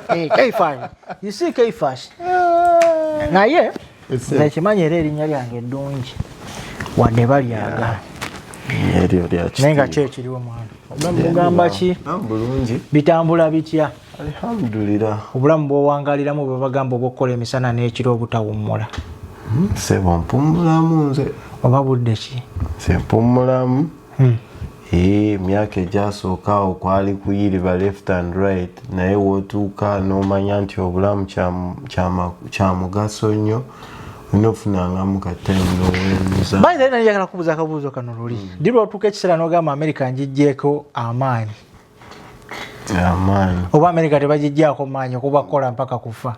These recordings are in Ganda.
Eh, kaifash you see kaifash ah. naye nekimanyi era erinnya lyange eddungi wadde balyaga naye nga ki ekiriwo mwana ogamba ki ah, bitambula bitya alhamdulira obulamu bwowangaliramu bwebagamba obwokukola emisana n'ekiro obutawummula hmm, sebo mpummulamu nze oba budde ki se mpummulamu hmm. Eee eh, myaka egyasooka awo kwali kuyiriba left and right naye wotuuka nomanya nti obulamu kyamugaso nnyo nofunangamu katayagala kubuza akabuuzo kano luli mm. dirwotuuka ekiseera nogamba amerika njijjeeko amaanyi oba amerika tebagijjaako maanyi okuba kukola mpaka kufa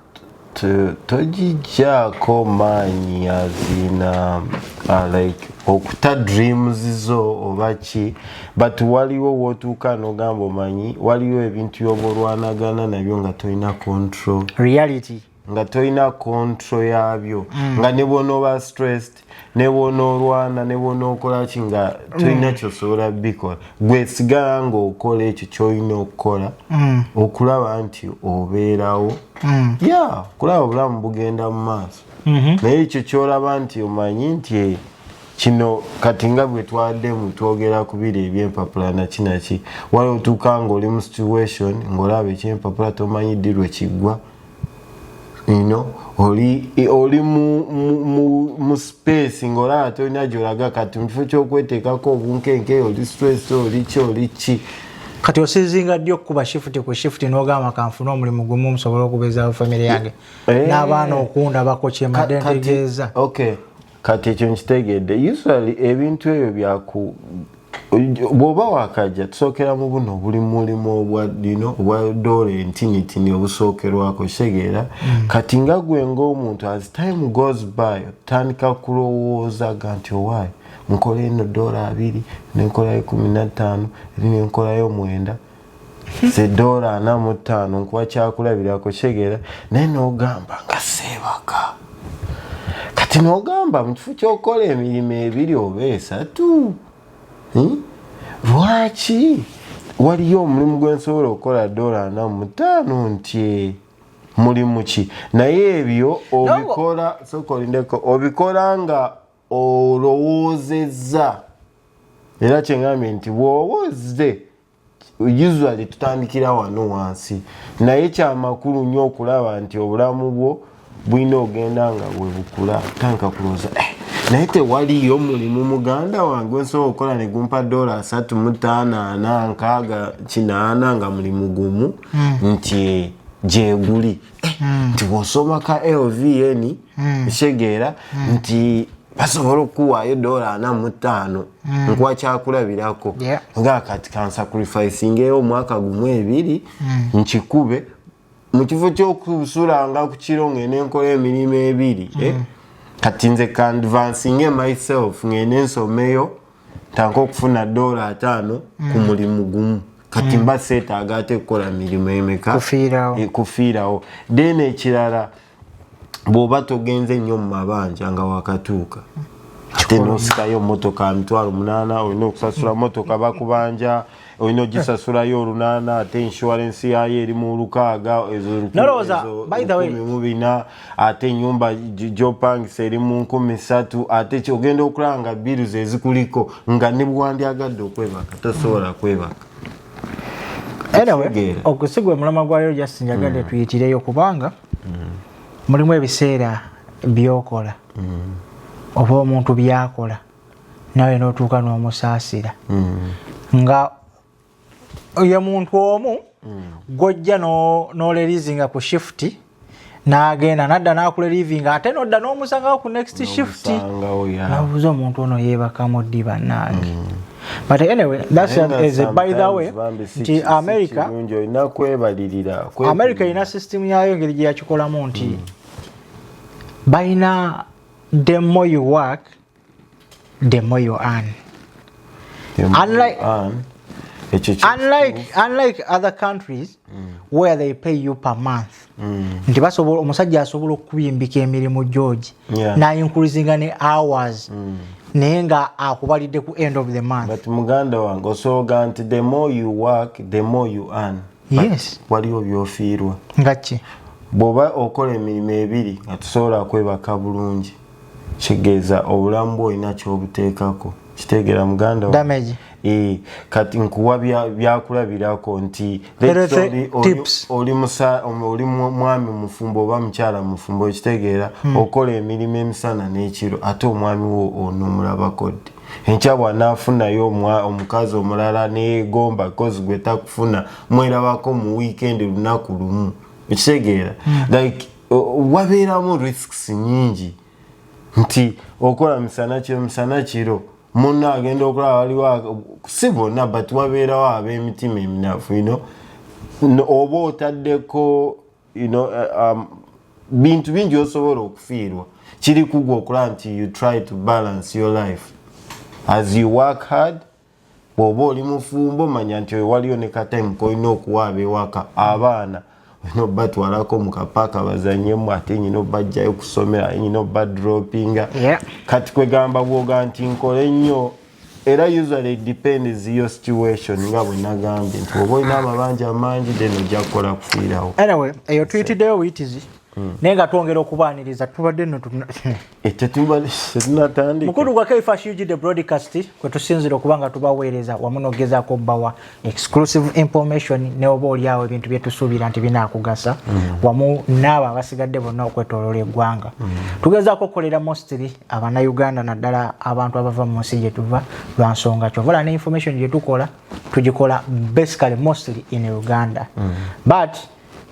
togijjaako maanyi azina uh, like okuta dreams zo oba ki but waliwo wotuuka nogamba omanyi waliwo ebintu yoba olwanagana nabyo nga tolina control reality nga tolina kontro yabyo mm. nga nebwonoba stressed nebwonoolwana nebwonookolaki nga tolina mm. kyosobola bikola gwesigala nga okola ekyo kyolina okukola mm. okulaba nti obeerawo mm. ya yeah, kulaba obulamu bugenda mu maaso mm -hmm. naye ekyo kyolaba nti omanyi nti eh, kino kati nga bwe twaddemu twogera ku biri ebyempapula naki naki wali otuuka ngaoli mu situation ngaolaba ekyempapula tomanyi ddi lwe kiggwa you know oli oli mu mu mu space ngolaba tolina gyolaga kati mu kifo kyokweteekako obunkenke oli stress oli ki oli ki kati osizinga ddi okukuba shifuti ku shifuti n'ogamba kanfuna omulimu gumu omusobola okubeezaawo famire yange eh. n'abaana okundabako kyemadentegeeza okay kati ekyo nkitegedde usually ebintu ebyo byaku bwoba wakajja tusookera mu buno buli mulimu obwadino obwa dola entinitini obusookerwako kitegeera mm. kati nga gwe ngaomuntu as time goes by otandika kulowooza ga nti owaayo nkola eno dola abiri nenkolayo kumi nattaano eri nenkolayo mwenda zidoola ana mu ttaano nkuwa kyakulabirako kyegera naye nogamba nga seebaka kati nogamba mu kifo kyokukola emirimu ebiri oba esatu hmm? lwaki waliyo omulimu gwensobola okukola doola ana mu ttaano ntye mulimu ki naye ebyo obikola sokolindeko obikola nga olowoozezza era kyengambye nti bwoba ozze usually tutandikira wano wansi naye kyamakulu nyo okulaba nti obulamu bwo bulina ogenda nga webukula tanka kuloza eh, naye tewaliyo mulimu muganda wange nsobola okukola negumpa dola asatu mutaano ana nkaaga kinaana nga mulimu gumu hmm. nti gyeguli eh, hmm. nti bwosoma ka lvn hmm. kitegeera hmm. nti basobola okukuwaayo dola ana mu ttaano hmm. nkuwa kyakulabirako nga kati kansakurifisingeyo omwaka gumu ebiri nkikube mu kifo ky'okusulanga ku kiro ng'e nenkola emirimu ebiri eh? kati nze kandivansinge myself ng'ende nsomeyo tanka okufuna dola ataano ku mulimu gumu kati mm. mba seetaaga ate kukola mirimu emeka kufiirawo eh, then ekirala bwoba togenze nnyo mu mabanja nga wakatuuka ate nosikayo motoka mitwalo munana olina okusasula motoka bakubanja olina ogisasulayo olunana ate insurance yayo eri mu lukaaga ezomubina ate enyumba gyopangisa eri mu nkumi satu ate kyogenda okulaba nga biru zezikuliko nga nebwewandyagadde okwebaka tosobola kwebaka anyway okusigwa omulama gwa leero just njagadde mm. tuyitireyo kubanga mm. mulimu ebiseera byokola mm. oba omuntu byakola nawe notuuka nomusaasira nga ye muntu omu gwojja nolerizinga ku shifuti nagenda nadda nakula living ate nodda nomusangawo ku next shift nabuuza omuntu ono yebakamu ddi bannange mm. but anyway that's a, as a by the way nti america america erina system yayo engeri gye yakikolamu nti mm. balina the more you work the more you earn unlike, unlike, unlike other countries mm. where they pay you per month mm. nti basobola omusajja asobola okukubimbika emirimu george yeah. nayinkurizinga ne hours mm. naye nga akubalidde ku end of the month but muganda wange osooga nti the more you work the more you earn yes waliwo byofiirwa ngaki bwoba okola emirimu ebiri nga tusobola kwebaka bulungi kigeza obulamu bwo olina kyobuteekako kitegeera muganda damage eh, kati nkuwa byakulabirako nti oli mwami mufumbo oba mukyala mufumbo ekitegeera hmm. okola emirimu emisana n'ekiro ate omwami wo onomulabako ddi enkya bwanaafunayo omukazi omulala negomba kozi gwe takufuna mwerabako mu wiikendi lunaku lumu ekitegeera hmm. like wabeeramu risks nyingi nti okola misana kiro misana kiro munno agenda okulaba waliwo si bonna but wabeerawo ab'emitima eminafu ino oba otaddeko eh, um, bintu bingi osobola okufiirwa kiri kugwa okulaba nti you try to balance your life as you work hard bwoba oli mufumbo manya nti oyo waliyo ne katime kolina okuwa abewaka abaana olina obatwalako mukapaaka bazanyemu ate nyina obajjayo kusomera nyina obadropinga kati kwegamba bwoga nti nkole nnyo era usually depends your situation nga bwenagambye nti oba olina amabanja amangi then ojja kukola kufiirawo anyway eyo tuyitiddeyo buyitizi Hmm. naye nga twongera okubaaniriza tubadde notunatandikmukulu eh, gwa kfsh ug the broadcast kwe tusinzira okuba nga tubaweereza wamu nogezaako okubawa exclusive information neoba oliawo ebintu byetusuubira nti binakugasa hmm. wamu naabo abasigadde bonna okwetolola eggwanga hmm. tugezaako okukolera mostly abanauganda naddala abantu abava mu nsi gyetuva lwa nsonga kyovala ne information gyetukola tugikola basically mostly in uganda but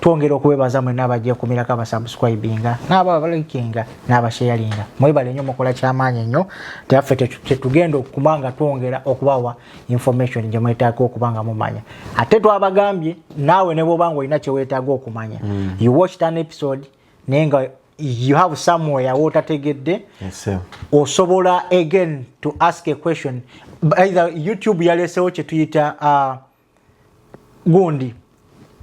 twongera okwebaza mwena abajekumirako abasubscribinga naabo abalikinga n'abasheyalinga mwebale nyo mukola kyamaanyi nnyo teyaffe tetugenda okukuma nga twongera okubawa information gye mwetaaga okuba nga mumanya ate twabagambye naawe ne bwoba nga olina kyewetaaga okumanya mm. you watched an episode naye nga you have somewhere wotategedde yes, osobola again to ask a question either youtube yalesewo kyetuyita uh, gundi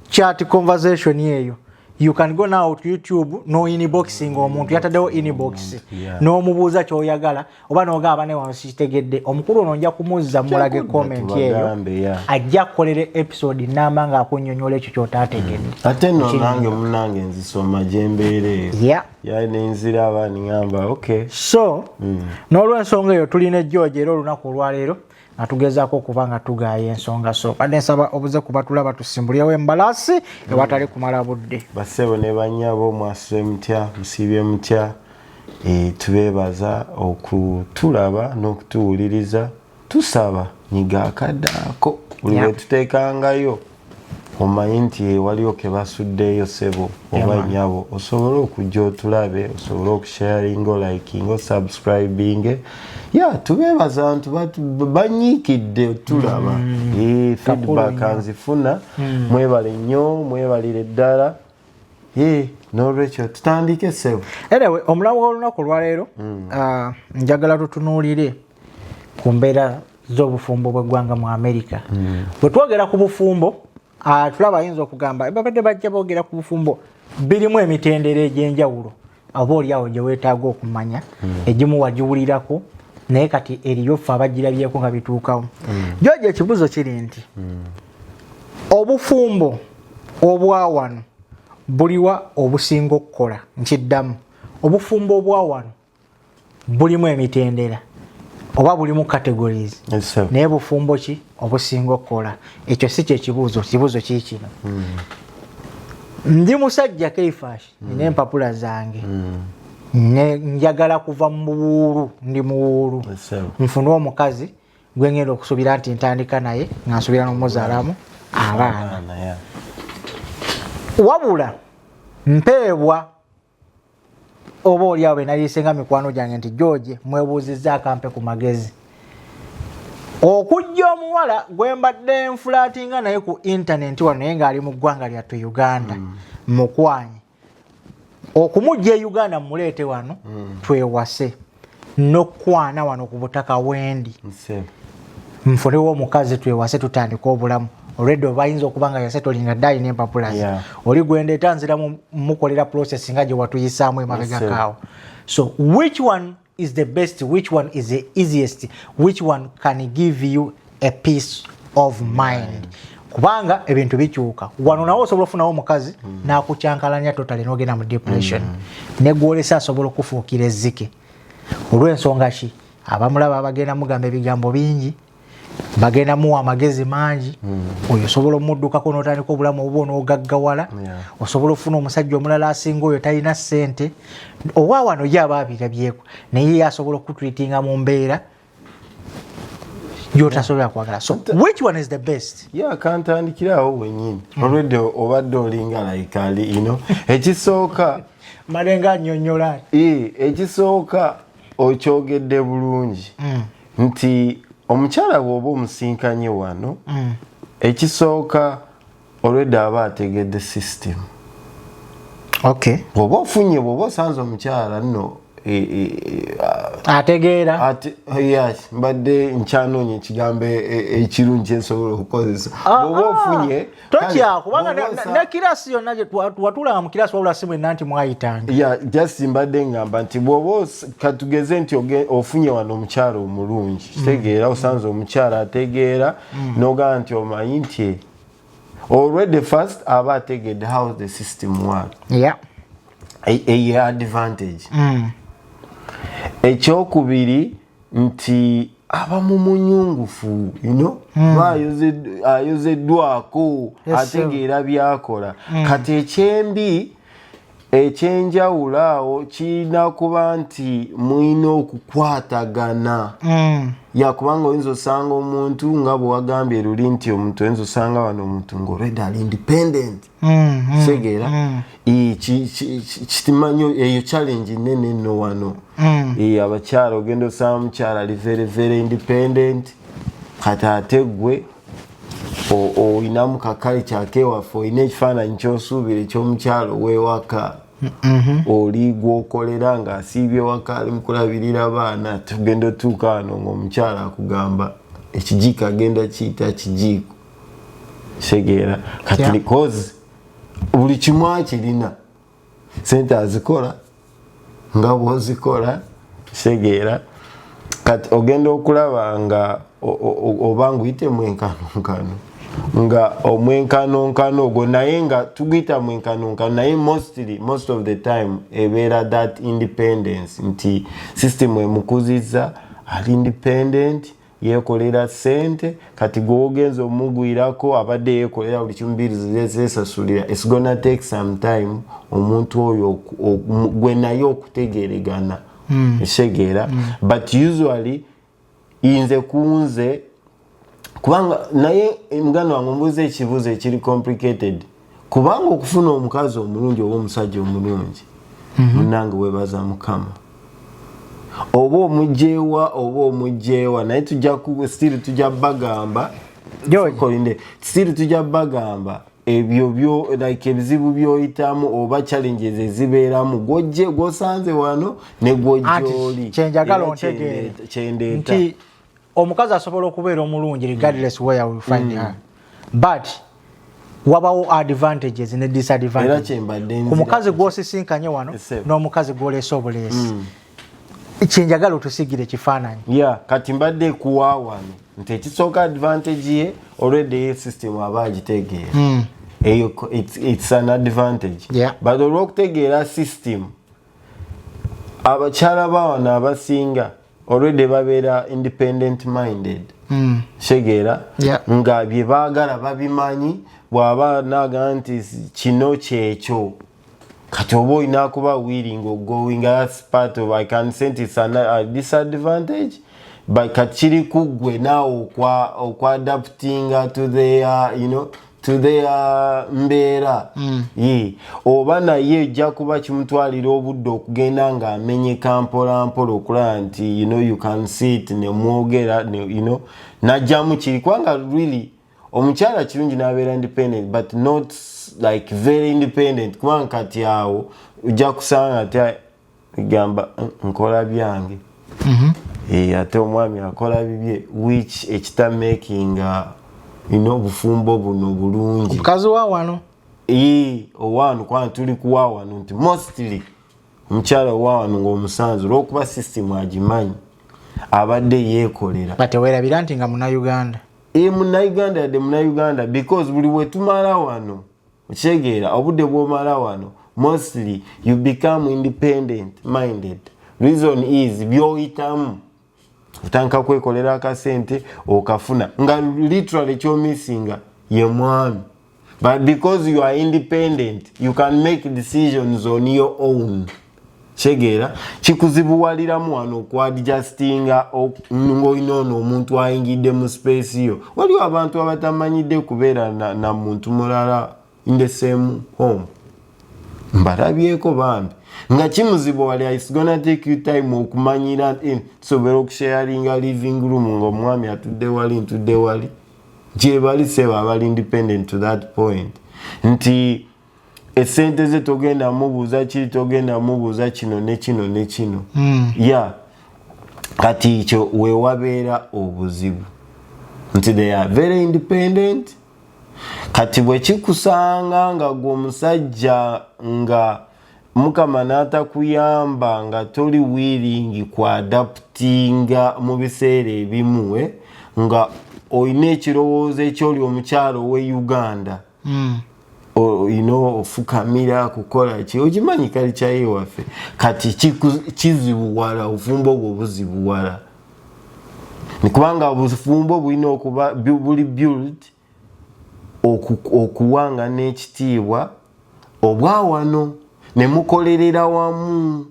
chat conversation yeyo you can go now to youtube no inboxing omuntu yatadewo inbox yeah. nomubuuza kyoyagala oba nogamba ne wano sikitegedde omukulu ono nja kumuzza mulage comment eyo ajja kukolera episode namba nga akunyonyola ekyo kyotategedde mm. ate no nange munange nzisoma gyembeera eyo yeah. yeah, nenzira abaniamba okay so mm. nolwensonga eyo tulina ejjooja era olunaku olwaleero nga tugezaako okuba nga tugaaya ensonga so badde nsaba obuze kuba tulaba tusimbulewo embalasi ewatali kumala budde basebo ne banyabo mwasuse mutya musiibye mutya e, tubeebaza okutulaba n'okutuwuliriza tusaba nyiga akaddaako buli lwetuteekangayo omanyi nti waliwo kebasuddeeyo sebo oba nyabo osobole okujja otulabe osobole okusharinga olikinga osubscribinge ya tubeebaza ntu banyiikidde otulaba mm. eh, feedback nzifuna mm. mwebale nnyo mwebalire ddala eh, nolwekyo tutandike sebo anyway omulamu w'olunaku olwaleero mm. ah, njagala tutunuulire ku mbeera z'obufumbo bw'eggwanga mu amerika hmm. bwe twogera ku bufumbo ah, tulaba ayinza okugamba babadde bajja boogera ku bufumbo birimu emitendera egy'enjawulo oba oliawo gye weetaaga okumanya hmm. egimu wagiwulirako naye kati eriyo ffe abagirabyeko nga bituukawo hmm. jojo ekibuzo kiri nti obufumbo obwawano buliwa obusinga okukola nkiddamu obufumbo obwawano bulimu emitendera oba bulimu categories naye bufumbo ki obusinga okukola ekyo si kyekibuuzo kibuuzo kiikino hmm. ndi musajja keifash hmm. nina empapula zange hmm. njagala kuva mu buwuulu ndi muwuulu nfune omukazi gwengenda okusubira nti ntandika naye nga nsubira nomuzalamu abaana wabula mpeebwa oba oli awo benayise nga mikwano gyange nti george mwebuuzizza akampe ku magezi okujja omuwala gwe mbadde nfulatinga naye ku intaneti wano naye ng'ali mu ggwanga lyattu uganda mm. mukwanye okumujja e uganda mumuleete wano mm. twewase nokukwana wano ku butaka wendi nfunewo omukazi twewase tutandika obulamu olwedde obayinza okuba nga yasetolinga dayi nempapula ze oli gwendeeta nzira mukolera process nga gyewatuyisaamu emabegakaawo so which one is the best which one is the easiest which one can give you a peace of mind kubanga ebintu bikyuka wano nawe osobola ofunawo omukazi mm. nakukyankalanya totale nogenda mu depression mm. negwolesa asobola okufuukira ezzike olwensonga ki abamulaba bagenda mugamba ebigambo bingi bagenda muwa amagezi mangi mm. oyo osobola omuddukako notandika obulamu obuba onogaggawala osobola okufuna omusajja omulala asinga oyo talina sente owa wano ye aba abirabyeko naye ye asobola okukutwitinga mu mbeera gyotasobola kwagala so which one is the best ya kantandikirawo wenyini hmm. olwedde obadde olinga like ali ino ekisooka malenga anyonyola ekisooka okyogedde bulungi hmm. nti omukyala bwoba omusinkanye wano hmm. ekisooka already aba ategedde system okay bwoba ofunye bwoba osanze omukyala nno e, e, e, ategeera yes mbadde nkyanoonya ekigambo ekirungi kyensobola okukozesa ah, bwoba ah. ofunye totya kubanga ne kirasi yonna watulaba mu kirasi wabula si mwenna nti mwayitanga ya just mbadde ngamba nti bwoba katugeze nti ofunye wano omukyala omulungi mm. kitegeera osanze omukyala ategeera mm. nogamba nti omanyi nti already first aba ategedde how the system work yeah. eye advantage mm. ekyokubiri nti aba mu munyungufu yuno hmm. ayozeddwako ategeera byakola hmm. kati ekyembi ekyenjawulo awo kirina kuba nti mulina okukwatagana mm. yakubanga oyinza osanga omuntu nga bwewagambye luli nti omuntu oyinza osanga wano omuntu ngaolwedde ali independent kitegeera mm, mm, kitimanyo eyo challenge nene no wano abakyala ogenda osanga mukyala ali very very independent kati ate gwe olinamu kakalikyako ewaffe olina ekifaananyi kyosuubira ekyomukyalo wewaka mm-hmm. oli gwokolera nga asiibye waka ali mukulabirira baana tugenda otuuka wano ngaomukyalo akugamba ekijiiko agenda kiyita kijiiko kitegeera kati buli kimu akirina sente azikola nga bwozikola kitegeera kati ogenda okulaba nga oba nguyite mwenkanonkano nga omwenkanonkano ogwo naye nga tuguyita mwenkanonkano naye mostly most of the time ebeera that independence nti system emukuziza ali independent yekolera sente kati gwogenza omugwirako abadde yekolera buli kimu biri zesasulira its gonna take some time omuntu oyo gwe naye okutegeregana mm. esegeera mm. but usually inze kunze kubanga naye muganda wange ombuuza ekibuuzo ekiri complicated kubanga okufuna omukazi omulungi oba omusajja omulungi mhm. munange webaza mukama oba omugyewa oba omugyewa naye tujja still tujja bagamba still tujja bagamba ebyo byo like ebizibu byoyitamu oba challenges ezibeeramu gwojje gwosanze wano ne gwojjooli kyenjagala ontegeere kyendeeta omukazi asobola okubeera omulungi regardless where we find mm. her but wabawo advantages ne disadvantage ku mukazi gwosisinkanye wano n'omukazi gwoleese obuleesi mm. kyenjagala otusigire ekifaananyi yeah, kati mbadde kuwa wano nti ekisooka advantage ye olweddeyo system aba agitegeera mm. eyo it's, it's an advantage yeah. but olwokutegeera system abakyala bawano abasinga already babeera independent minded mm. shegeera yeah. nga bye baagala babimanyi bw'aba naaga nti kino kyekyo kati oba olina kuba willing ogoing as part of i can sent its an, a disadvantage but kati kiri kuggwe naawe okwa, okwa adaptinga to their you know to their uh, mbeera mm. ye oba naye ejja kuba kimutwalira obudde okugenda nga amenyeka mpola mpola okulaba nti you know you can see it nemwogera you know najjamu kiri kubanga really omukyala kirungi nabeera independent but not like very independent kubanga kati awo ojja kusanga ti gamba nkola byange mhm. eh, ate omwami akola bibye which ekita making ina uh, obufumbo buno bulungi omukazi wa wano eh, owano kwana tuli kuwa wano nti mostly omukyala owa wano ngaomusanzu olwokuba system agimanyi abadde yekolera batewerabira nti nga munauganda e eh, munauganda yadde munauganda because buli wetumala wano okitegeera obudde bwomala wano mostly you become independent minded reason is byoyitamu otandika kwekolera akasente okafuna nga literally kyomissinga ye mwami but because you are independent you can make decisions on your own kitegeera kikuzibuwaliramu wano okwadjustinga ngaolina ono omuntu ayingidde mu space yo waliwo abantu abatamanyidde kubeera na, na muntu mulala in the same home mbalabyeko bambi nga kimuzibuwalira its gonna take you time okumanyira eh, tusobera okusharinga living room nga omwami atudde wali ntudde wali gyebali sebo abali independent to that point nti esente ze togenda mubuuza kiri togenda mubuuza kino nekino nekino mm. ya yeah. kati ekyo wewabeera obuzibu nti they are very independent kati bwekikusanga nga gwe omusajja nga mukama natakuyamba nga toli wiringi kuadaputinga mu biseera ebimuwe eh, nga olina ekirowoozo ekyoli omukyalo we uganda mm. Oh, you know ofukamira kukola ki okimanyi kali kyaye waffe kati kizibuwala obufumbo obwo buzibuwala kubanga obufumbo bulina okuba buli build okuwanga n'ekitiibwa obwawano ne mukolerera wamu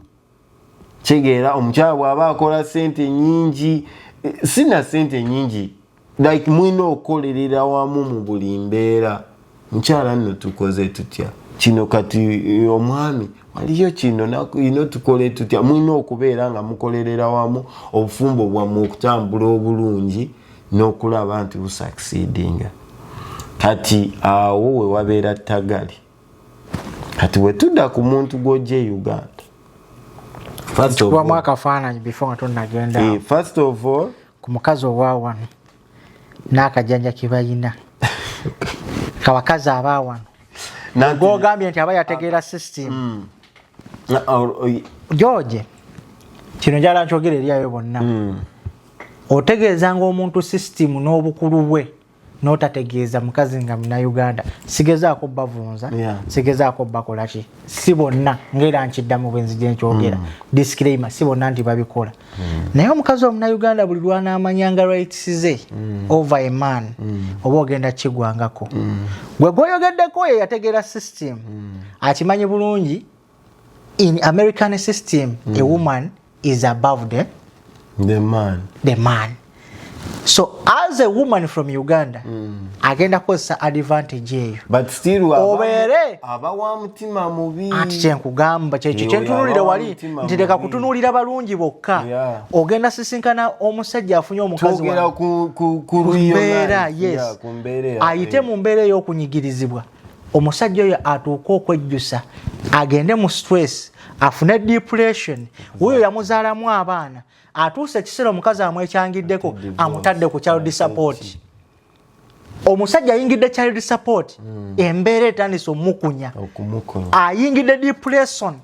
kitegeera omukyala bwaba akola sente nyingi sina sente nyingi like mulina okukolerera wamu mu buli mbeera mukyala nno tukoze tutya kino kati omwami waliyo kino nakino tukole tutya mulina okubeera nga mukolerera wamu obufumbo bwammwe okutambula obulungi n'okulaba nti busakisidinga kati awo wewabeera tagali kati wetudda ku muntu gwojja e uganda first of all akafaananyi before nga tonagenda eh, first of all ku mukazi owawano n'akajanja kebayina kabakazi abawano gogambye nti aba yategeera system mm. george kino njala nkyogera eryayo bonna mm. otegeezanga omuntu system n'obukulu bwe notategeeza mukazi nga munauganda sigezaako bavunza yeah. sigezaako bakolaki si bonna ngaera nkiddamu bwenzi gyenkyogera mm. disclaimer si bonna nti babikola mm. naye omukazi omunauganda buli lwanamanyanga rights ze mm. over a man mm. oba ogenda kigwangako mm. gwe gwoyogeddeko ye yategeera system mm. akimanyi bulungi in american system mm. a woman is above the, the man the man so as a woman from uganda mm. agenda kukozesa advantage eyo obeere anti kyenkugamba kyekyo kyentunulire wali nti leka kutunulira balungi bokka ogenda sisinkana omusajja afunye omukazikumbeera yes ayite mu mbeera ey'okunyigirizibwa omusajja oyo atuuka okwejjusa agende mu stress afune depression wuyo yamuzaalamu abaana atuuse ekiseera omukazi amwekyangiddeko amutadde ku child support omusajja ayingidde child support hmm. embeera etandise omukunya ayingidde depression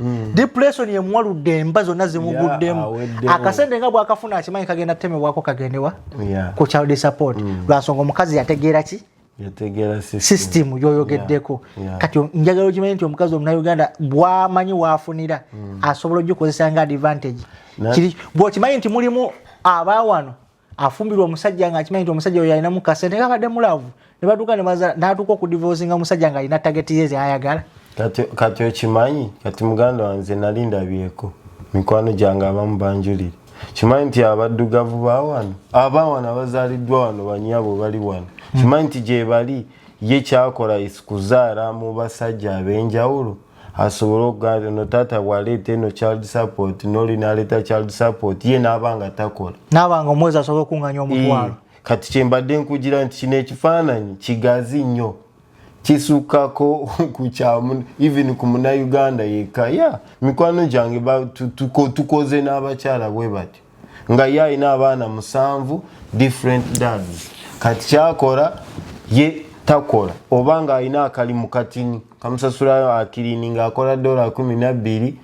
Hmm. depression yemuwaludde emba zonna zimuguddemu akasente nga bwakafuna akimanyi kagenda temebwako kagendewa ku child support hmm. lwansonga omukazi yategeera ki system yoyogeddeko kati njagala okimanyi nti omukazi omunauganda bwamanyi wafunira hmm. asobola ogikozesa nga advantage bwokimanyi nti mulimu abawano afumbirwa omusajja nga akimanyi nti omusajja oyo alinamu kasente nga abadde mulavu ne batuuka natuuka okudivosinga omusajja nga alina tageti ye zayagala kati okimanyi kati muganda wange nali ndabyeko mikwano gyange abamu banjulire kimanyi nti abaddugavu bawano abawano abazaliddwa wano banyabo bali wano hmm. kimanyi nti gyebali ye kyakola isikuzaala mu basajja ab'enjawulo asobole okugamba ono taata bwaleeta eno child support noli naleeta child support ye naaba nga takola naaba nga omwezi asobole okunganya omutwalo kati kyembadde nkugira nti kino ekifaananyi kigazi nnyo kisukako kukyamu even ku munauganda yekka ya mikwano gyange tukoze n'abakyala bwe batyo nga ye alina abaana musanvu different dads kati kyakora ye takola oba nga alina akalimu katini kamusasulayo akilini nga akola dola kumi nabbiri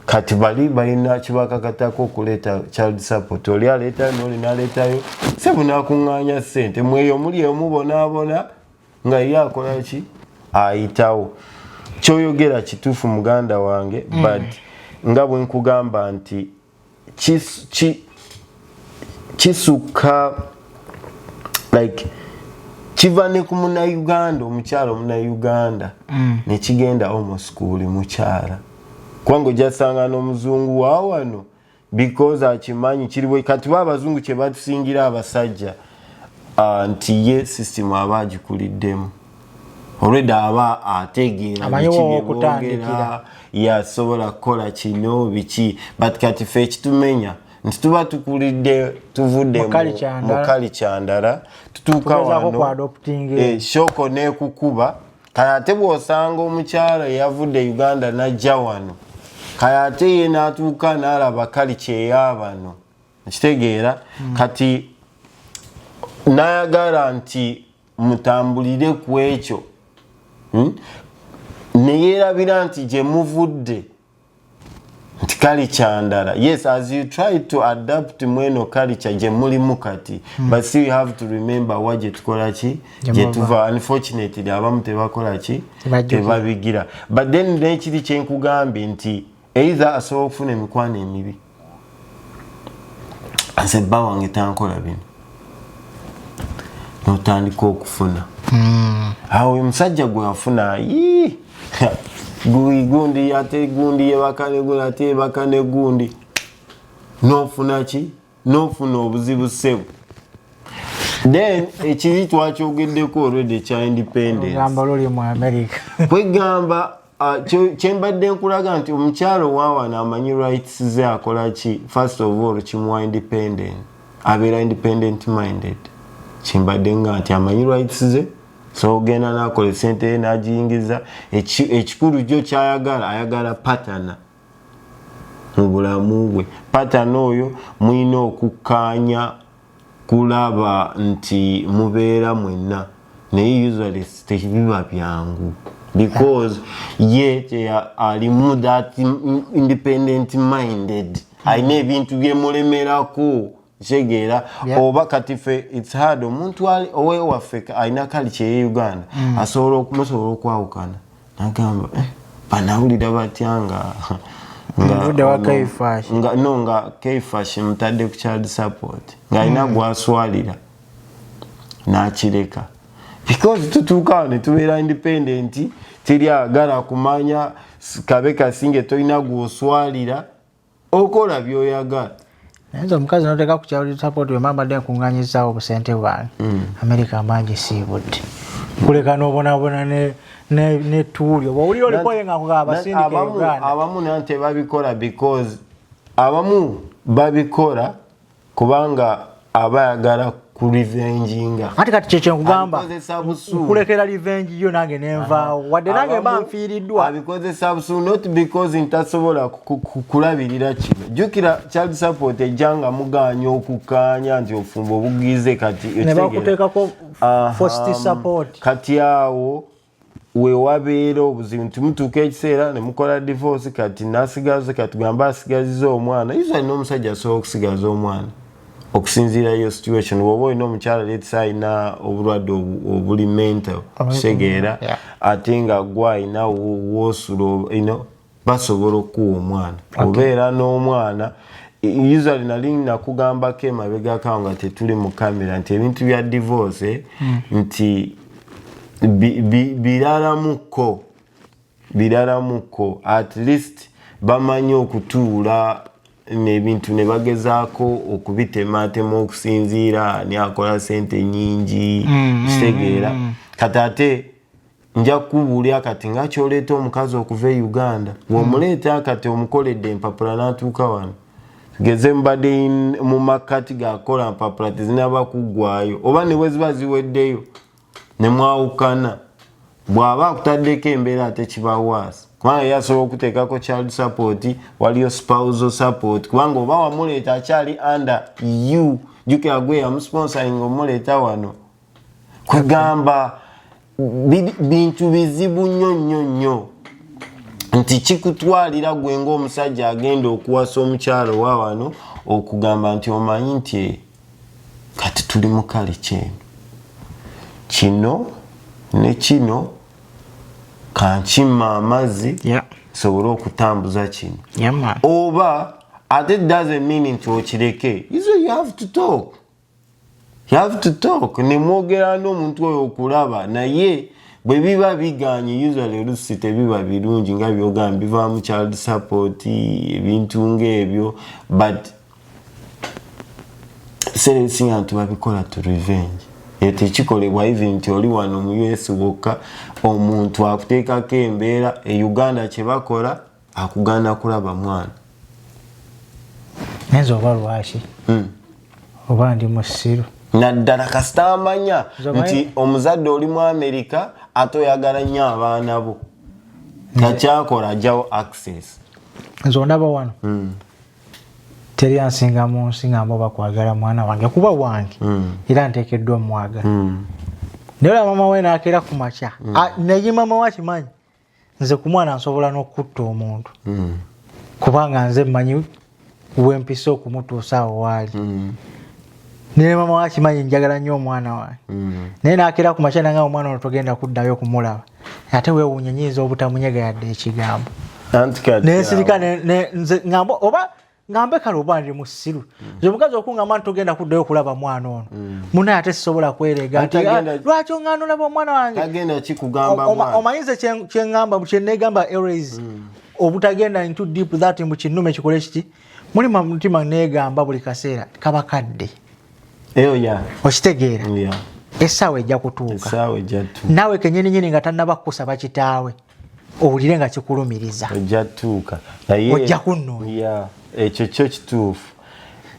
kati bali balina kibakakatako okuleeta child support oli aleetayo noli naleetayo se bunakuŋŋaanya ssente mweyo muli omubonaabona nga ye akola ki ayitawo kyoyogera kituufu muganda wange mm. but nga bwenkugamba nti kisukka like kiva ne ku munauganda omukyala omunauganda mm. nekigenda almost ku buli mukyala kubanga ojasanga n'omuzungu wawano because akimanyi kiriwe kati ba abazungu kyebatusingira abasajja ah, nti ye system aba agikuliddemu olwedda aba ategeera bikibyebogera yasobola kukola kino biki but kati fe ekitumenya nti tuba tukulidde tuvudde mukali kyandala tutuuka wano eh, shoko nekukuba kale ate bw'osanga omukyala eyavudde uganda n'ajja wano kale ate ye n'atuuka n'alaba kali kyeya bano okitegeera hmm. kati nayagala nti mutambulire ku ekyo hmm? ne yeerabira nti gye muvudde nti kalica ndala yes as you try to adapt mweno kalica gye mulimu kati hmm. but still you have to remember wa gye tukola ki gye tuva unfortunately abamu tebakola ki tebabigira but then nekiri kyenkugambye nti eitha asobola okufuna emikwano emibi nze bba wange tankola bino notandika okufuna hmm. awo oyo musajja gwe afuna yii gundi ate gundi yebakane gundi ate yebakane gundi nofuna ki nofuna obuzibu sebo then ekiri twakyogeddeko already ekya independencekwegamba uh, kyembadde nkulaga nti omukyalo owawana amanyi rights ze akola ki first of all kimuwa independent abeera independent minded kyembadde nga nti amanyi rights ze so ogenda nakola esente ye nagiyingiza ekikulu kyo kyayagala ayagala patana mu bulamu bwe patana oyo mulina okukkaanya kulaba nti mubeera mwenna naye usually tebiba byangu because ye alimu that independent minded alina ebintu byemulemerako kitegeera oba kati fe its hard omuntu owewaffe alina kali kyeye uganda mm. asobola okumusobola okwawukana nagamba eh, banawulira batya nga no nga kfash mutadde ku child support ngaalina mm. gwaswalira nakireka because tutuukawo netubeera independent teri agala kumanya kabe kasinge tolina gwoswalira okola byoyagala nayenze omukazi noteka kukyawuli support wemambadde nkunganyizawo obusente bwange mm. amerika mangi siibudde kuleka nobonabona netuuli oba owulira olikoye nga kugaabasindikaabamu nante babikola because abamu babikola kubanga aba ayagala ku revenge nga ate kati kyekyo nkugamba kulekera revenge yo nange nenvaawo wadde nange mba nfiiriddwa abikozesa busu not because ntasobola kulabirira kino jjukira child support ejja nga mugaanya okukkaanya nti ofumba obugize kati nebakuteekako fosti support kati awo wewabeera obuzibu nti mutuuka ekiseera nemukola divorce kati nasigaza katugamba asigaziza omwana iso alina omusajja asobola okusigaza omwana okusinziira yo situation woba olina omukyala letsa alina obulwadde obuli mental kitegeera ate nga gwa alina wosula basobola okukuwa omwana obeera n'omwana usually nali nakugambako emabegako nga tetuli mu kamera nti ebintu bya divorce hmm. nti biralamuko biralamuko at least bamanyi okutuula nebintu nebagezaako okubitemaatema okusinziira ani akola sente nyingi hmm, hmm, kitegeera kati ate nja kukubuulira kati nga kyoleeta omukazi okuva e uganda womuleeta kati omukoledde empapula natuuka wano tugeze mubadde mu makkati gakukola mpapula tezinaba kuggwayo oba ne bweziba ziweddeyo ne mwawukana bw'aba akutaddeko embeera ate kibawaasi kubanga yasobola okuteekako child support waliyo spousal support kubanga oba wamuleeta akyali under u jukira gwe yamusponsoring omuleeta wano kugamba bintu bizibu nnyo nnyo nnyo nti kikutwalira gwe ngaomusajja agenda okuwasa omukyalo wa wano okugamba nti omanyi nti kati tuli mukale kyeno kino ne kino kankima amazzi nsobole okutambuza kino oba ate doesn't mean nti okireke iso you have to talk you have to talk nemwogera n'omuntu oyo okulaba naye bwe biba biganye usually olusi tebiba birungi nga byogamba bivaamu child support ebintu ngaebyo but ekiseera ebisinga nti babikola to revenge eyo tekikolebwa even nti oli wano mu us wokka omuntu akuteekako embeera e uganda kyebakola akugana kulaba mwana nenze oba lwaki hmm. oba ndi musiru naddala kasita amanya nti omuzadde oli mu amerika ate oyagala nnyo abaana bo takyakola ajawo access nze ondaba wano hmm. teri ansinga mu nsi nga mba bakwagala mwana wange kuba wange hmm. era ntekeddwa omwagala naye ola mama we nakeera ku makya naye mama we akimanyi nze ku mwana nsobola n'okukutta omuntu mm. kubanga nze mmanyi wempisa okumutuusa awo waali mm. naye mama wakimanyi njagala nnyo omwana wange mm. naye nakeera ku makyana nga omwana ono togenda kuddayo okumulaba ate wewuunya nyinza obutamunyega yadde ekigambo naye sirika ngamba oba nga mbeka lwoba ndi musiru mm. ze mukazi okungamba nti togenda kuddayo okulaba mwana ono mm. muna ate sisobola kwereega nti ah, lwaki ongana olaba omwana wange omanyi ze kyengamba kyenegamba eras mm. obutagenda into deep that mbu kinume kikole kiti muli mutima negamba buli kaseera kaba kadde okitegeera essaawa ejja kutuuka naawe kenyininyini nga tannaba kukusaba kitaawe owulire nga kikulumiriza ojja tuuka naye ojja kunnoonya ekyo kyo kituufu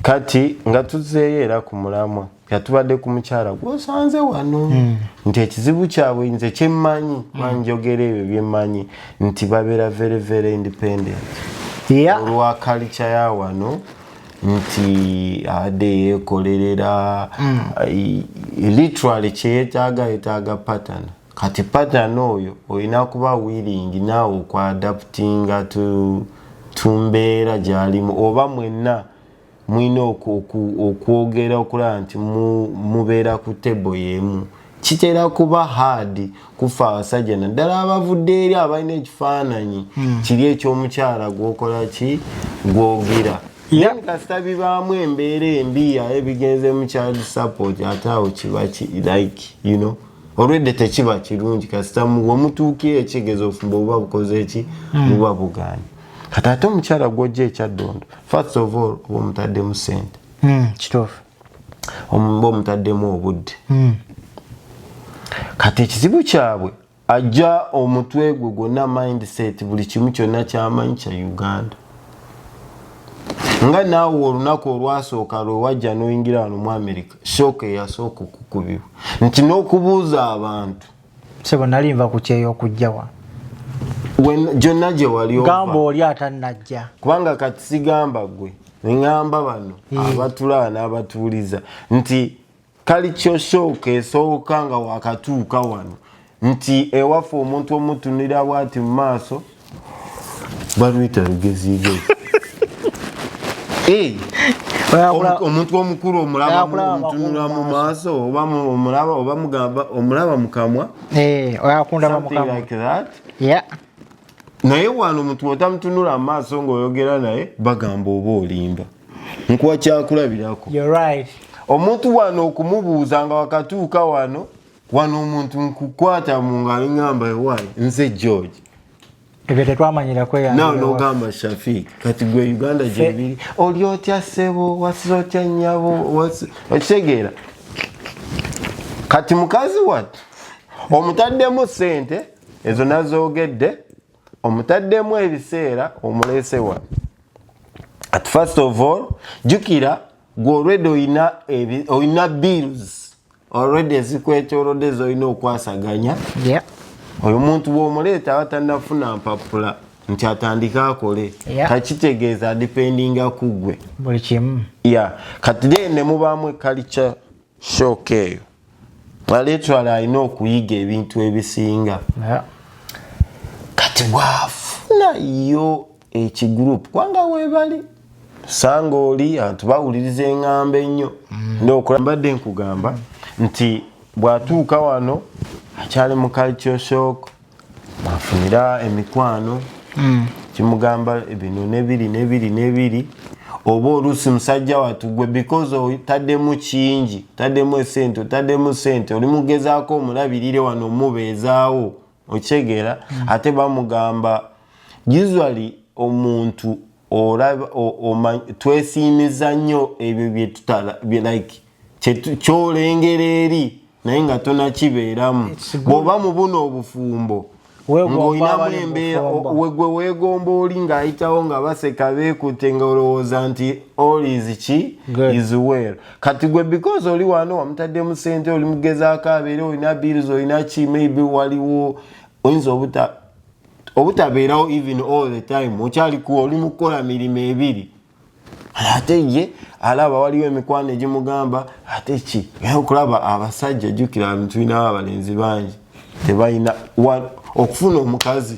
kati nga tuzeeyo era ku mulamwa nga tubadde ku mukyala gwosanze wano hmm. nti ekizibu kyabwe nze kyemmanyi hmm. banjogera ebyo byemmanyi nti babeera very very independent olwa kalica ya wano nti abadde yeekolerera hmm. literally kyeyetaaga yetaaga patana kati pattern oyo olina kuba willing naawe okuadaptinga tumbeera gyalimu oba mwenna mulina okwogera okulaba nti mubeera ku table yemu kitera kuba hard kufa abasajja naddala abavudde eri abalina ekifaananyi hmm. kiri ekyomukyala gwokola ki gwogira ye kasita bibaamu embeera embi aye bigenze mu child support ate awo kiba ki like you know olwedde tekiba kirungi kasita womutuuka ekigezo ofumba obuba bukoze eki hmm. buba buganye kati ate omukyala gwojja ekyaddondo first of all oba omutaddemu sente hmm, kituufu omuba omutaddemu obudde hmm. kati ekizibu kyabwe ajja omutwe gwe gwonna mindset buli kimu kyonna kyamanyi kya uganda nga naawe olunaku olwasooka lwewajja noyingira wano mu america shooka eyasooka okukubibwa nti n'okubuuza abantu sebo nali nva ku kyeyo okujjawa gyonna gye waligamba oli atannajja kubanga kati sigamba gwe neŋamba bano eh. abatulaba n'abatuuliza nti kali kyosooka esooka nga wakatuuka wano nti ewaffe omuntu omutunira bwati mu maaso baluyita lugeziigezi omuntu omukulu omulabamutunula mu maaso oba omulaba oba mugamba omulaba mukamwa eh, naye wano omuntu otamutunula mu maaso ngaoyogera naye bagamba oba olimba nkuwa kyakulabirako omuntu wano okumubuuza nga wakatuuka wano wano omuntu nkukwata mu ngalo ngamba ewayi nze george ebyo tetwamanyira kweyannawe nogamba shafik kati gwe uganda gyebiri oli otya ssebo wasiza otya nnyabo okitegeera kati mukazi wattu omutaddemu ssente ezo nazoogedde omutaddemu ebiseera omuleese wa at first of all jukira gwe olwedde olina bills already ezikwetolodde zolina okwasaganya yeah. oyo muntu bwomuleeta abatanafuna mpapula nti atandike akole yeah. takitegeeza adipendinga kuggwe buli kimu yeah. kati de nemubaamu ekalica shoka eyo aleetwala alina okuyiga ebintu ebisinga yeah. kati bwafuna yo ekigroup kubanga webali sanga oli anti bawuliriza eŋŋamba ennyo mm. nokola mbadde nkugamba nti bw'atuuka wano akyali mu culture shock afunira emikwano mm. kimugamba bino nebiri nebiri nebiri oba oluusi musajja watu gwe because otaddemu kingi otaddemu esente otaddemu sente oli mugezaako omulabirire wano omubeezaawo okitegeera ate bamugamba usually omuntu olaba twesiimiza nnyo ebyo byetutala like kyolengera eri naye nga tonakibeeramu bwoba mu buno obufumbo ng'olinamu embeera wegwe weegomba oli ng'ayitawo nga baseka beekute nga olowooza nti all is ki is well kati gwe because oli wano wamutaddemu sente oli mugezaako abeere olina bills olina ki maybe waliwo oyinza obuta obutabeerawo even all the time okyalikuwa oli mukukola mirimu ebiri ate ye alaba waliwo emikwano egimugamba ate ki okulaba abasajja jukira tulinawo abalenzi bangi tebalina okufuna omukazi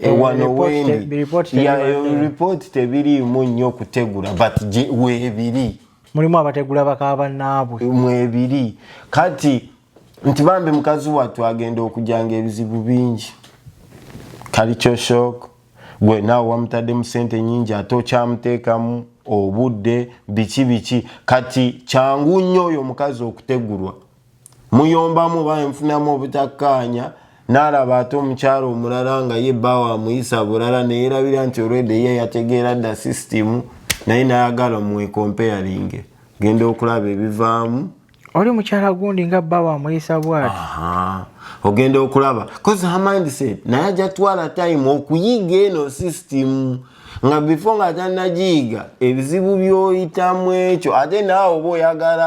Eh, eh, wano wendi report tebiriimu nnyo kutegula but webiri mulimu abategula bakaba naabwe mwebiri kati nti bambi mukazi wattu agenda okujanga ebizibu bingi kalikyo shock gwe naawe wamutaddemu sente nyingi ate okyamuteekamu obudde biki biki kati kyangu nnyo oyo omukazi okutegulwa muyombamu oba nfunamu obutakkaanya n'alaba ate omukyalo omulala nga ye bbaawo amuyisa bulala neyerabira nti olwedde ye yategeera dda sisitimu naye nayagala mwekompeyalinge genda okulaba ebivaamu oli mukyala gundi nga bbaawo amuyisa bwati ogenda okulaba kozi her mindset naye ajja twala time okuyiga eno sisitimu nga bifo nga tanagiyiga ebizibu byoyitamu ekyo ate naawe oba oyagala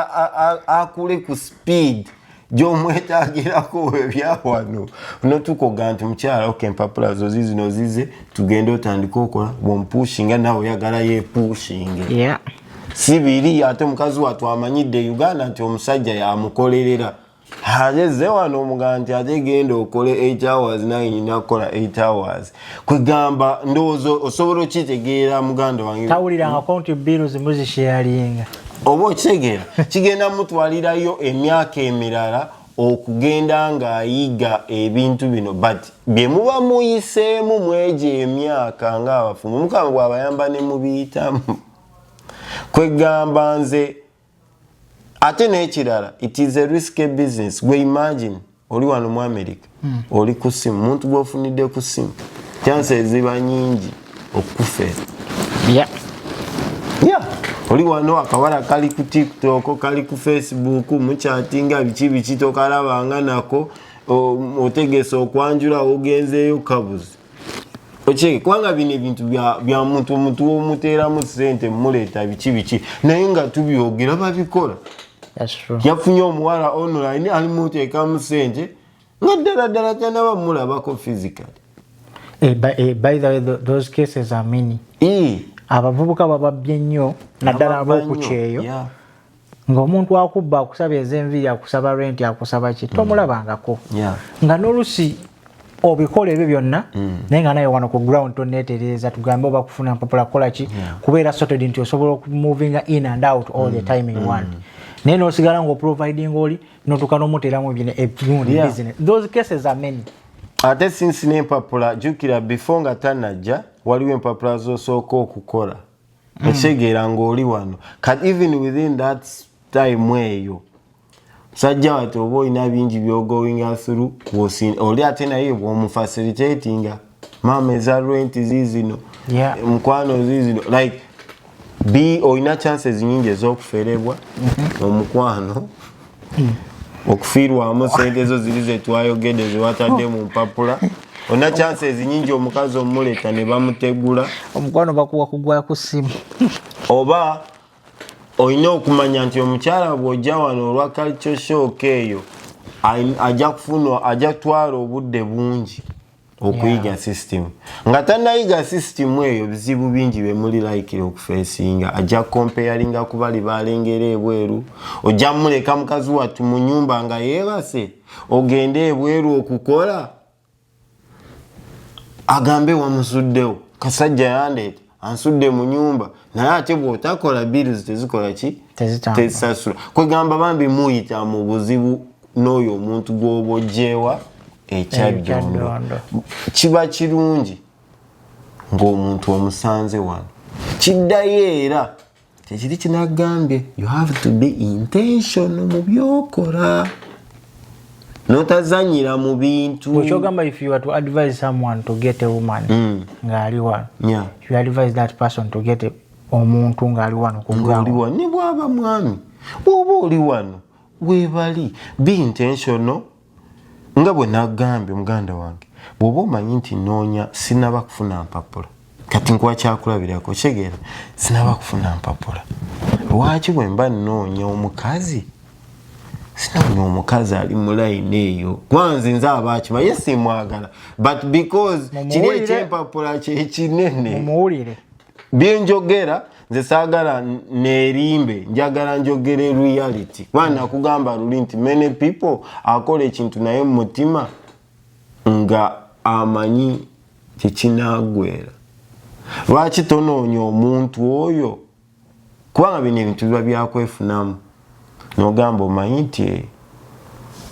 akule ku speed gyomwetagirako webyawano notukoga nti mukyala ok empapula zo zizino zize tugende otandika okola bompushinga nawe oyagala yepushinge yeah. si biri ate mukazi watwamanyidde uganda nti omusajja yamukolerera ageze wano omugamba nti ate genda okole 8 hours naye nyina kukola 8 hours kwegamba ndowooza osobola okitegeera muganda wange tawulirangako nti biiru zimu zisheyalinga oba okitegeera kigenda mutwalirayo emyaka emirala okugenda ng'ayiga ebintu bino but bye muba muyiseemu mwegyo emyaka ng'abafumu mukama bw'abayamba ne mubiyitamu kwegamba nze ate nekirala it is a risky business gwe imagine oli wano mu america mm. oli ku simu muntu gwofunidde ku simu chanse eziba nyingi okukufera yeah. yeah. oli wano akawala kali ku tiktok kali ku facebook mukyatinga biki biki tokalabanga nako otegese okwanjula ogenzeeyo kabuzi okyeke kubanga bino ebintu bya muntu omuntu omuteeramu sente muleeta biki biki naye nga tubyogera babikola yafunye omuwala online alimuteekamu sente nga ddala ddala tanaba mulabako physically eh, eh, by the way those cases are many abavubuka bababbye nnyo naddala ab'okukyeyo ng'omuntu akubba akusaba ezenviiri akusaba renti akusaba ki mm. tomulabangako nga nolusi obikola ebyo byonna mm. naye nga naye wano ku ground tonetereeza tugambe oba kufuna mpapula kukolaki kubeera sorted nti osobola okumovinga in and out all the mm. time in one naye nosigala ngaoproviding oli notuuka nomuteeramu ebirundi business those cases are many ate sinsi nempapula jukira before nga tanajja waliwo empapula zosooka okukola mm. okitegeera ng'oli wano kat even within that time eyo sajja wati oba olina bingi byogoinga through oli ate naye bwomufacilitatinga maama eza rent zizino yeah. mukwano zizino like b olina chances nyingi ez'okuferebwa mm -hmm. omukwano okufiirwamu sente ezo ziri zetwayogedde zewatadde mu mpapula olina chansi ezinyingi omukazi omuleta ne bamutegula omukwano bakuwa kugwa ku ssimu oba olina okumanya nti omukyala bw'ojja wano olwa culture shock eyo ajja kufuna ajja kutwala obudde bungi okuyiga system nga tanayiga system eyo bizibu bingi bemuli layikira okufesinga ajja kompeyalinga kubali balengera ebweru ojja muleka mukazi wattu mu nyumba nga yebase ogende ebweru okukola agambe wamusuddewo kasajja yandeeta ansudde mu nyumba naye ate bwotakola bills tezikola ki tezisasula kwegamba bambi muyita mu buzibu n'oyo omuntu gwoba ojjeewa ekyajjondo kiba kirungi ng'omuntu omusanze wano kiddayo era kyekiri kinagambye you have to be intentional mu byokola notazanyira mu bintu okyogamba if you are to advise someone to get a woman mm. ngaali wano yeah. you advise that person to get omuntu ngaali wano kungaali wano ne bwaba mwami bwoba oli wano webali be intentional nga bwe nagambye muganda wange bw'oba omanyi nti nnoonya sinaba kufuna mpapula kati nkuwa kyakulabirako kitegeera sinaba kufuna mpapula lwaki bwe mba nnoonya omukazi sinoonya omukazi ali mu layini eyo kwanze nze abaakima ye simwagala but because kiri ekyempapula kyekinene byenjogera nze saagala neerimbe njagala njogere reality kuba nakugamba luli nti many people akola ekintu naye mu mutima nga amanyi kyekinagwera lwaki tonoonya omuntu oyo kubanga bino ebintu biba byakwefunamu nogamba omanyi nti eh,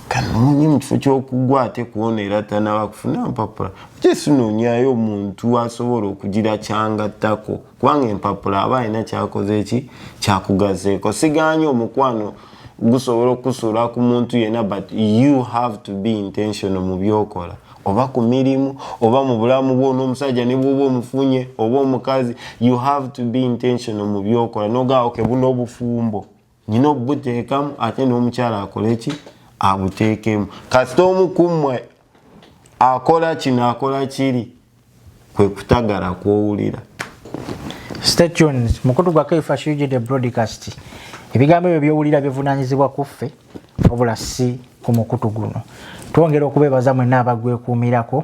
kanonye mukifo kyokugwa ate kuona era tanaba kufuna mpapula jesu nonyayo omuntu asobola okugira kyangattako kubanga empapula aba alina kyakoze ki kyakugazeeko siganye omukwano gusobola okusuula ku muntu yena but you have to be intentional mu byokola oba ku mirimu oba mu bulamu bwo n'omusajja ne bwoba omufunye oba omukazi you have to be intentional mu byokola nogaa oke buno obufumbo nyina obubuteekamu ate n'omukyala akole ki abuteekemu kasita omu kummwe akola kino akola kiri kwe kutagala kwowulira Stay tuned. Mukutu gwa Kaifa Shujid the broadcast. Ebigambo ebyo byowulira bivunanyizibwa kuffe wabula si ku mukutu guno. Twongera okubeebaza mwenna abagwekuumirako.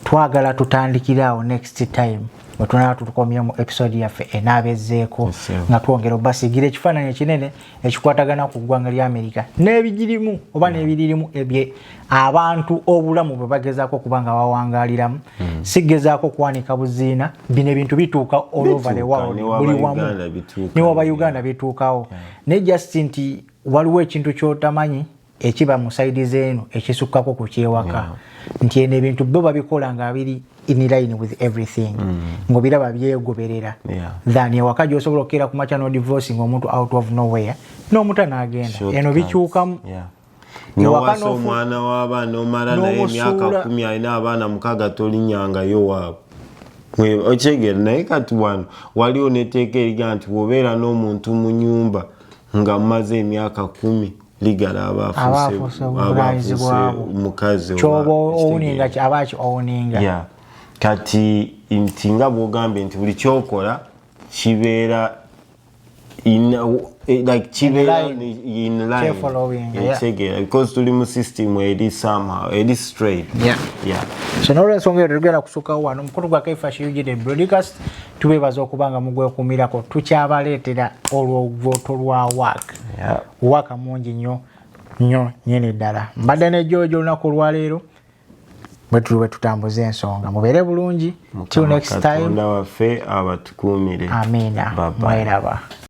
Twagala tutandikire awo next time bwe tunaaba tutukomye mu episode yaffe enaaba ezzeeko nga twongera obasigira ekifaananyi ekinene. ekikwatagana ku ggwanga lya amerika n'ebigirimu oba n'ebiririmu ebye abantu obulamu bwe bagezaako okuba nga bawangaliramu hmm. sigezaako kwanika buziina bino ebintu bituuka olvbuli wamu newa ba uganda bituukawo hmm. naye just nti waliwo ekintu kyotamanyi ekiba mu saidi zeeno ekisukkako ku kyewaka nti eno ebintu bo babikola nga biri in line with everything mm. ngobiraba byegoberera than ewaka gyosobola okukeera ku makya nodivorce nga omuntu out of nowhere n'omuta n'agenda eno bikyukamu nowasa omwana w'abaana omala naye emyaka kumi alina abaana mukaaga tolinyangayo waabwe okyegera naye kati wano waliwo neteeka eriga nti wobeera n'omuntu mu nyumba nga mumaze emyaka kumi ligala abaafuuse obuvunaanyizibwa bwabwo mukazi kyoba owuninga aba ki owuninga kati nti nga bwogambye nti buli kyokola kibeera Eh, like kibeera in line ekitegeera because tuli mu system eri somehow eri straight so nolwensonga eyo tetugenda kusukawo wano omukulu gwa kaifa shiyujide broadcast tubeebaza okuba nga mugwekumirako tukyabaleetera olwovoto lwa work waka mungi nyo nyo nyini ddala mbadde ne george olunaku olwaleero bwetuli bwetutambuza ensonga mubeere bulungi till next time waffe abatukuumire amina mweraba